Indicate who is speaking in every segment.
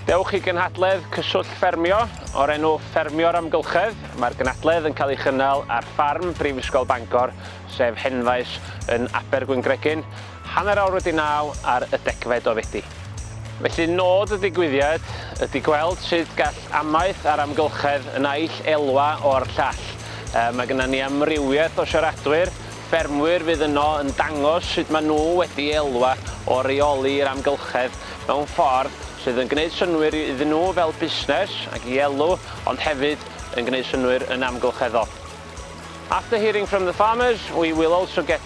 Speaker 1: Dewch i gynhadledd Cyswllt Ffermio o'r enw Ffermio'r Amgylchedd. Mae'r gynhadledd yn cael ei chynnal ar ffarm Brifysgol Bangor, sef Henfaes yn Abergwyngregyn. Hanner awr wedi naw ar y degfed o Fedi. Felly nod y digwyddiad ydy gweld sut gall amaeth a'r amgylchedd y naill elwa o'r llall. Mae gynna ni amrywiaeth o siaradwyr, ffermwyr fydd yno yn dangos sut maen nhw wedi elwa o reoli'r amgylchedd mewn ffordd sydd yn gwneud synnwyr iddyn nhw fel busnes ac i elw ond hefyd yn gwneud synnwyr yn amgylcheddol. After hearing from the farmers we will also get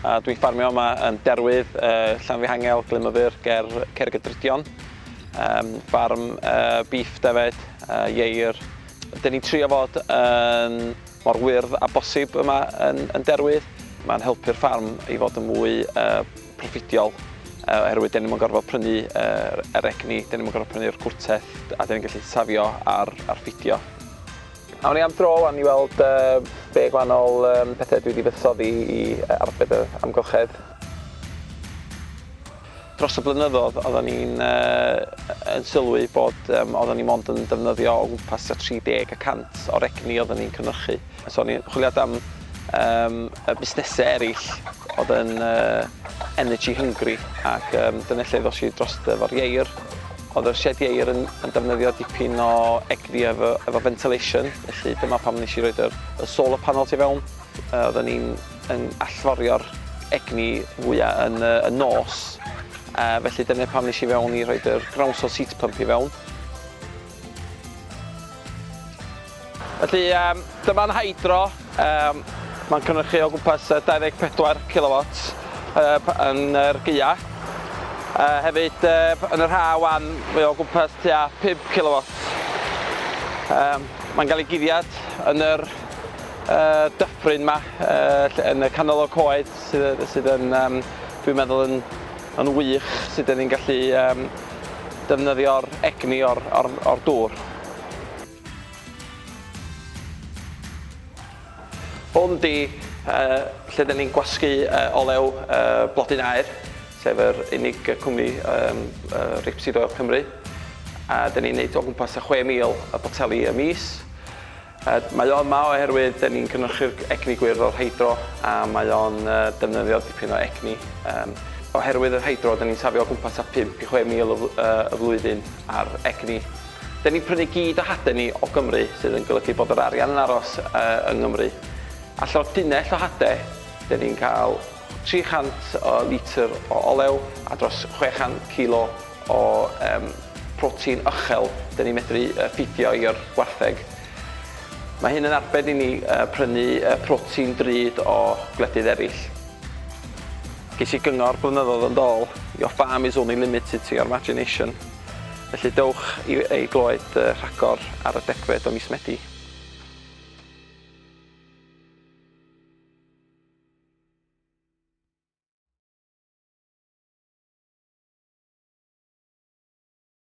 Speaker 2: A dwi'n ffarmio yma yn Derwydd, Llanfihangel, Glynmyfyr, ger Cerrigydrudion. Yym ffarm yy bîff defyd, yy ieir. 'Dyn ni'n trio fod yn mor wyrdd â bosib yma yn yn Derwydd. Ma'n helpu'r ffarm i fod yn mwy yy proffidiol yy oherwydd 'dyn ni'm yn gorfod prynu yy yr egni, 'dyn ni'm yn gorfod prynu'r cwrteth a 'dyn ni'n gallu safio ar ar ffidio. Awn ni am dro wan i weld be gwahanol pethe dwi di fuddsoddi i arbed yr amgylchedd. Dros y blynyddodd oddan ni'n yn sylwi bod oddan ni mond yn defnyddio o gwmpas tua 30 y cant o'r egni oddan ni'n cynyrchu. So o'n i'n chwiliad am busnese erill odd yn energy hungry ac dyna lle ddosh i drosto fo'r ieir. Oedd yr siedi aer yn yn defnyddio dipyn o egni efo efo ventilation, felly dyma pam nes i roid yr y solar panel tu fewn. Yy oedden ni'n yn allforio'r egni fwya yn y y nos, yy felly dyna pam nes i fewn i rhoid yr ground source heat pump i fewn. Felly yym dyma'n hydro, yym mae'n cynhyrchu o gwmpas 24 kilowatts yy yn yr gaeaf. Yy hefyd yy yn yr haf 'wan mae o gwmpas tua 5 kilowatts. Yym mae'n cael ei guddiad yn yr yy dyffryn 'ma yy ll- yn y canol o'r coed sydd yy sydd yn yym dwi'n meddwl yn yn wych sut 'dyn ni'n gallu yym defnyddio'r egni o'r o'r o'r dŵr. Hwn 'di lle 'da ni'n gwasgu olew blodyn aer, sef yr unig gwmni reipsido o Cymru, a 'da ni'n neud o gwmpas y 6,000 o boteli y mis. Mae o yma oherwydd 'da ni'n cynhyrchu'r egni gwyrdd o'r hydro a mae o'n defnyddio dipyn o egni. Oherwydd yr hydro 'da ni'n safio o gwmpas tua 5 i 6,000 y flwyddyn ar egni. Dan ni'n prynu gyd o hade ni o Gymru sydd yn golygu bod yr arian yn aros yng Nghymru. Allan o dunnell o hade, dan ni'n cael 300 o litr o olew a dros 600 kilo o protein uchel dan ni'n medru ffîdio i'r gwartheg. Mae hyn yn arbed i ni prynu protein drud o gwledydd eraill. Ges i gyngor blynyddoedd yn dôl, Your farm is only limited to your imagination. Felly dewch i i glywed y rhagor ar y degfed o mis Medi.